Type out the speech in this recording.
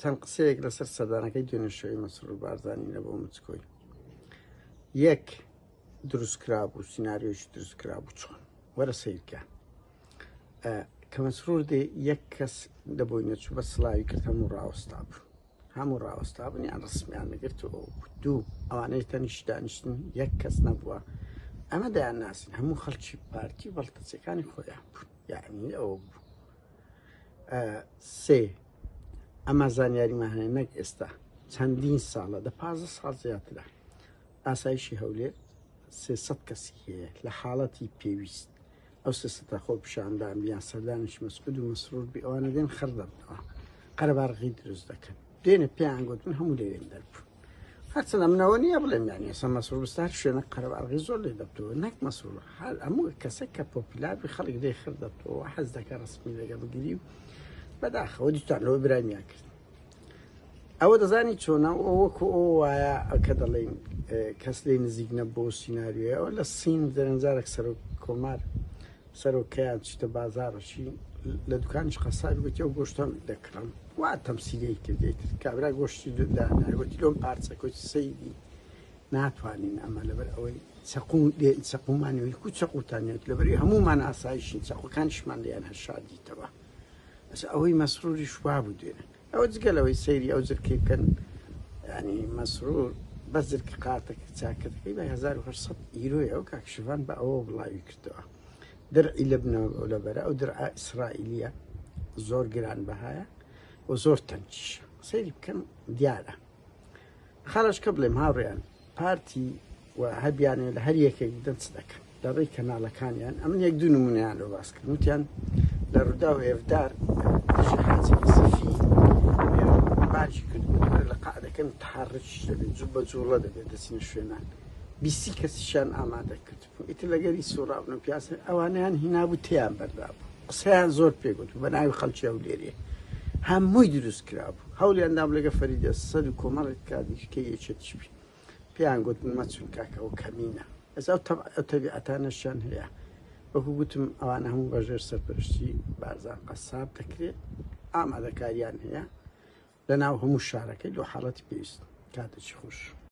چەند قسەیەک لەسەر سەدانەکەی دوێنێشەوەی مەسرور بارزانانی لە بۆ مچکۆی یەک دروستکرا بوو سینناریۆشی دروستکرا بوو چۆن وەرە سیرکە کە مەسرور دێ یەک کەس لە بۆی نەچوو بە سلاوی کرد هەموو ڕاوەستا بوو هەموو ڕاوەستا بوون یان ڕسمیان نەگرت و دوو ئەوانەی تەنیش دانیشتن یەک کەس نەبووە ئەمە دەیان ناسن هەموو خەڵکی پارتی بەڵتەچەکانی خۆیان بوون یعنی ئەوە بوو سێ ئەمە زانیاریمان هەیە نەک ئێستا چەندین ساڵە دە پازە ساڵ زیاترە ئاسایشی هەولێ سێسەد کەسی هەیە لە حاڵەتی پێویست ئەو سێسەتا خۆ پیشاندان بیان سەردانش مەسعود و مەسرور بی ئەوانە دێن خڕدەبنەوە قەرەبارغی دروست دەکەن دێنە پێیان گوتن هەموو لەوێن دەربوو هەرچەنە منەوە نییە بڵێم یان ئێستا مەسرور مستار شوێنە قەرەباڵغی زۆر لێ دەبتەوە نەک مەسرور حال ئەموو کەسە کە پۆپیلار بی خەڵک لێ خر دەبتەوە حەز دەکە ڕسمی لەگە بگیری و بەداخەوە دیتان لەوە برامیان کرد ئەوە دەزانی چۆنە وەکو ئەو وایە کە دەڵێن کەس لی نزیک نەبوو سینناریوەوە لە سین دەرەنجارێک سەرۆک کۆمار سەرۆک کەیان چیتە بازاڕەشی لە دوکانش قەسابی گوتی ئەو گۆشتم دەکڕم وا تەمسیلەی کردێت کابرا گۆشتی دانا گوتی لۆم پارچە کۆچ سەیدی ناتوانین ئەمە لەبەر ئەوەی چەقو لێن چەقومان ویل کو چەقوتان نێت لەبەری هەمومان ئاسایشین چەقوەکانشمان لێیان هەشادیتەوە ئەس ئەوەی مەسروری شوا بوو دێنێت ئەوە جگە لەوەی سەیری ئەو جرکەی بکەن ینی مەسرور بەس جرکە قاتەکە چاکەتەکەی بە 1970 ئیرۆی ئەو کاکشڤان بە ئەوە بڵاوی کردەوە درعی لە بنەوە ئەو لە بەرە ئەو درعا ئیسرائیلیە زۆر گران بەهایە و زۆر تەنکیشە سەیری بکەن دیارە خەرەجکە بڵێم هاوڕێیان پارتی و هەبیانێ لە هەر یەکێک بدەن چ دەکەن لە ڕێی کەناڵەکانیان ئەمن یەک دوو نمونیان لە باس کرد وتیان لە ڕوودا و ئێفدار دژی حاجی نەزیفی بارکی کرد بۆ لە قعدەکەم تحرکیش دەبێت جوو بە جوڵە دەبێت دەچینە شوێنان بیسی کەسیشان ئامادە کرد ئیتر لەگەری سوڕابن و پیاس ئەوانیان هینابوو تیان بەردابوو قسەیان زۆر پێگوت بە ناوی خەڵکی ئەو لێرێ هەمووی دروست کرابوو هەولیان دام لەگە فەریدە سەد و کۆمەڵێک کادیش کە یەکێتیش بی پێیان گوت مەچون کاکەەوە کەمینە ئەزا تەبیعەتانەشیان هەیە وەکو گوتم ئەوان هەموو بەژێر سەرپەرشتی بارزان قەساب دەکرێت ئامادەکاریان هەیە لە ناو هەموو شارەکەی دو حاڵەتی پێویست کاتەی خوش